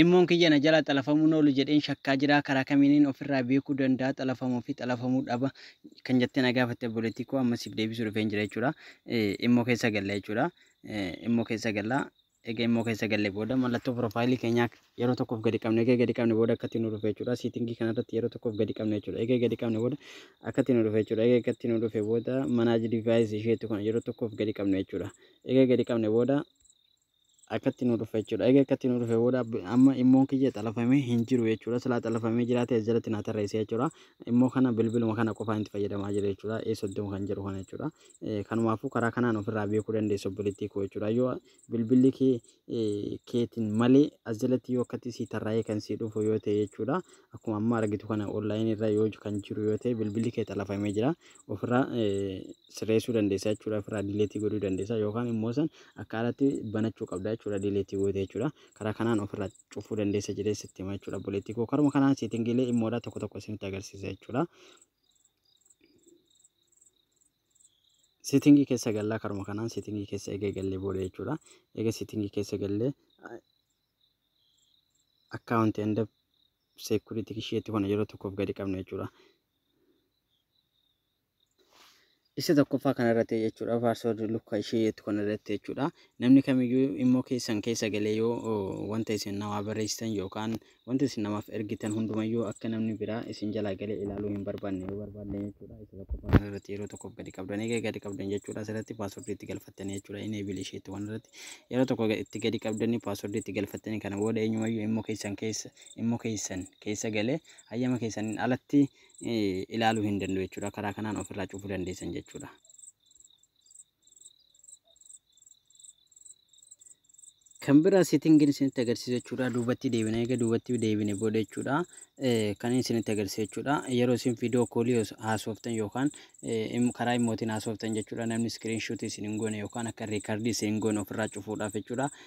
Immoon kiyya na jalaa xalafamuun oolu jedheen shakkaa jira. Karaa kamiinin ofirraa beekuu danda'a xalafamuu fi xalafamuu dhaba kan jettee na gaafatte obboleettii koo amma siif deebisuu dhufeen jira jechuudha. Immoo keessa galla jechuudha. Immoo keessa galla. Egaa immoo keessa galle booda mallattoo piroofaayilii keenyaa yeroo tokkoof gadi qabne egaa gadi qabne booda akkatti nu dhufe jechuudha. Siitingii kanarratti yeroo tokkoof gadi qabne jechuudha. Egaa gadi qabne booda akkatti nu dhufe jechuudha. Egaa akkatti nu dhufe booda manaaji divaayis isheetu kana yeroo tokkoof gadi qabne jechuudha. Egaa gadi qabne booda akkatti nu dhufe jechuudha. Egaa akkatti nu dhufe booda amma immoon kiyya xalafamee hin jiru jechuudha. Silaa xalafamee jiraate as jalatti naa tarreessee jechuudha. Immoo kana bilbiluma kana qofaan itti fayyadamaa jira jechuudha. Ee soddoma kan jedhu kana jechuudha. Kanumaafuu karaa kanaan ofirraa beekuu dandeessu obboleettii koo jechuudha. Yoo bilbilli kee keetiin malee as jalatti yoo akkatti sii tarraa'ee kan sii dhufu yoo ta'e jechuudha. Akkuma amma argitu kana onlaayinii irra yoo kan jiru yoo ta'e bilbilli kee xalafamee jira. Ofirraa sirreessuu dandeessa jechuudha ofirraa dileetii godhuu dandeessa yookaan immoo san akka alatti banachuu qabda jechuudha dileetii goote jechuudha karaa kanaan ofirraa cufuu dandeessa jedhee sitti hima jechuudha obboleettii koo karuma kanaan seetingiilee immoodhaa tokko tokko isinitti agarsiisa jechuudha. Seetingii keessa gallaa karuma kanaan seetingii keessa eega gallee booda jechuudha eega seetingii keessa gallee akkaawunti hunda seekuriitii isheetti kana yeroo tokkoof gadi qabna jechuudha. Isa tokkoffaa kana irratti jechuudha password lukka ishee jettu kana irratti jechuudha namni kamiyyuu immoo keessan keessa galee yoo wanta isin namaa barreessitan yookaan wanta isin namaaf ergitan hundumayyuu akka namni biraa isin jalaa galee ilaaluu hin barbaanne yoo barbaanne jechuudha isa tokkoffaa kana irratti yeroo tokkoof gadi qabdan egaa gadi qabdan jechuudha asirratti password itti galfattanii jechuudha inni ebil isheetti waan irratti yeroo tokko itti gadi qabdanii password itti galfattanii kana booda eenyumayyuu immoo keessan keessa immoo keessan keessa galee hayyama keessaniin alatti ilaaluu hin danda'u jechuudha. Karaa kanaan ofirraa cufuu dandeessan jechuudha. Kan biraa seetingiin isinitti agarsiisu jechuudha. Duubatti deebina egaa duubatti deebine booda jechuudha. Kan isinitti agarsiisu jechuudha. Yeroo isin viidiyoo koolii haasoftan yookaan karaa immootiin haasoftan jechuudha. Namni iskiriin shuutii isin hin goone yookaan akka riikardii isin hin goone ofirraa cufuudhaaf jechuudha.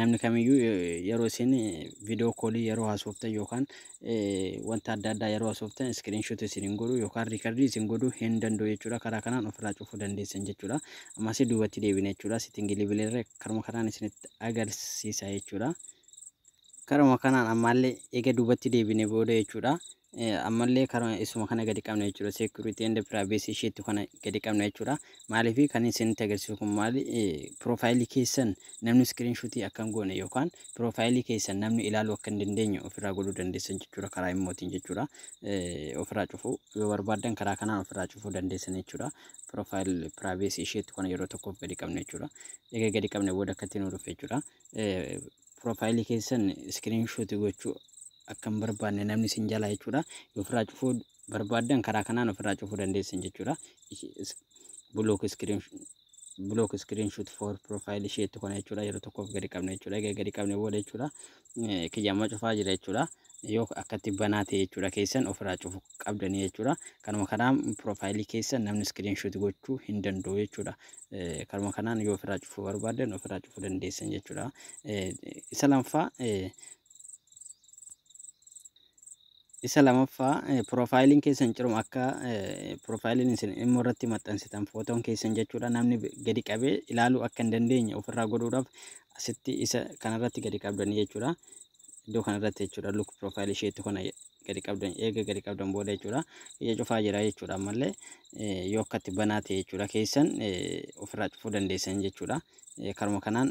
namni kamiyyuu yeroo isin viidiyoo koolii yeroo haasoftan yookaan wanta adda addaa yeroo haasoftan iskiriinshoot isin hin godhu yookaan riikardii isin godhu hin danda'u jechuudha. Karaa kanaan ofirraa cufuu dandeessan jechuudha. Ammas duubatti deebina jechuudha. Sitingilii bileerra karuma kanaan isinitti agarsiisa jechuudha. Karuma kanaan ammaallee eega duubatti deebine booda jechuudha. ammallee karuma isuma kana gadi qabna jechuudha security and privacy isheetti kana gadi qabna jechuudha maaliif kan isinitti agarsiisu kun maali piroofaayilii keessan namni iskiriin shuutii akka hin goone yookaan piroofaayilii keessan namni ilaaluu akka hin dandeenye ofirraa godhuu dandeessan jechuudha karaa immootiin jechuudha ofirraa cufuu yoo barbaadan karaa kanaan ofirraa cufuu dandeessan jechuudha piroofaayil piraayiveesii isheetti kana yeroo tokkoof gadi qabna jechuudha egaa gadi qabna booda akkatti nu dhufe jechuudha piroofaayilii keessan iskiriin shuutii gochuu akka hin barbaanne namni isin jalaa jechuudha. Yoo ofirraa cufuu barbaaddan karaa kanaan ofirraa cufuu dandeessan jechuudha. Block screen block screenshot for profile isheetti kana jechuudha yeroo tokkoof gadi qabna jechuudha egaa gadi qabne booda jechuudha kiyyamma cufaa jira jechuudha yoo akkatti banaa ta'e jechuudha keessan ofirraa cufu qabdanii jechuudha kanuma kanaan piroofaayilii keessan namni screenshot gochuu hin danda'u jechuudha kanuma kanaan yoo ofirraa cufuu barbaaddan ofirraa cufuu dandeessan jechuudha isa lamfaa isa lamaffaa piroofaayiliin keessan ciruma akka piroofaayiliin isin immoo irratti maxxansitan footoon keessan jechuudha namni gadi qabee ilaaluu akka hin dandeenye ofirraa godhuudhaaf asitti isa kanarratti gadi qabdanii jechuudha iddoo kanarratti jechuudha luk piroofaayilii isheetti kana gadi qabdan eega gadi qabdan booda jechuudha ija cufaa jira jechuudha ammallee yoo akkatti banaa ta'e jechuudha keessan ofirraa cufuu dandeessan jechuudha karuma kanaan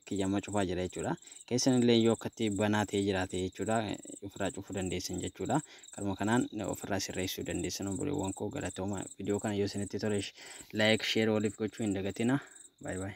kiyyamma cufaa jira jechuudha keessan illee yoo akkatti banaa ta'e jiraate jechuudha ofirraa cufuu dandeessan jechuudha karuma kanaan ofirraa sirreessuu dandeessan obboleewwan koo galatooma viidiyoo kana yoo isinitti tole laayik sheer waliif gochuu hin dagatina baay baay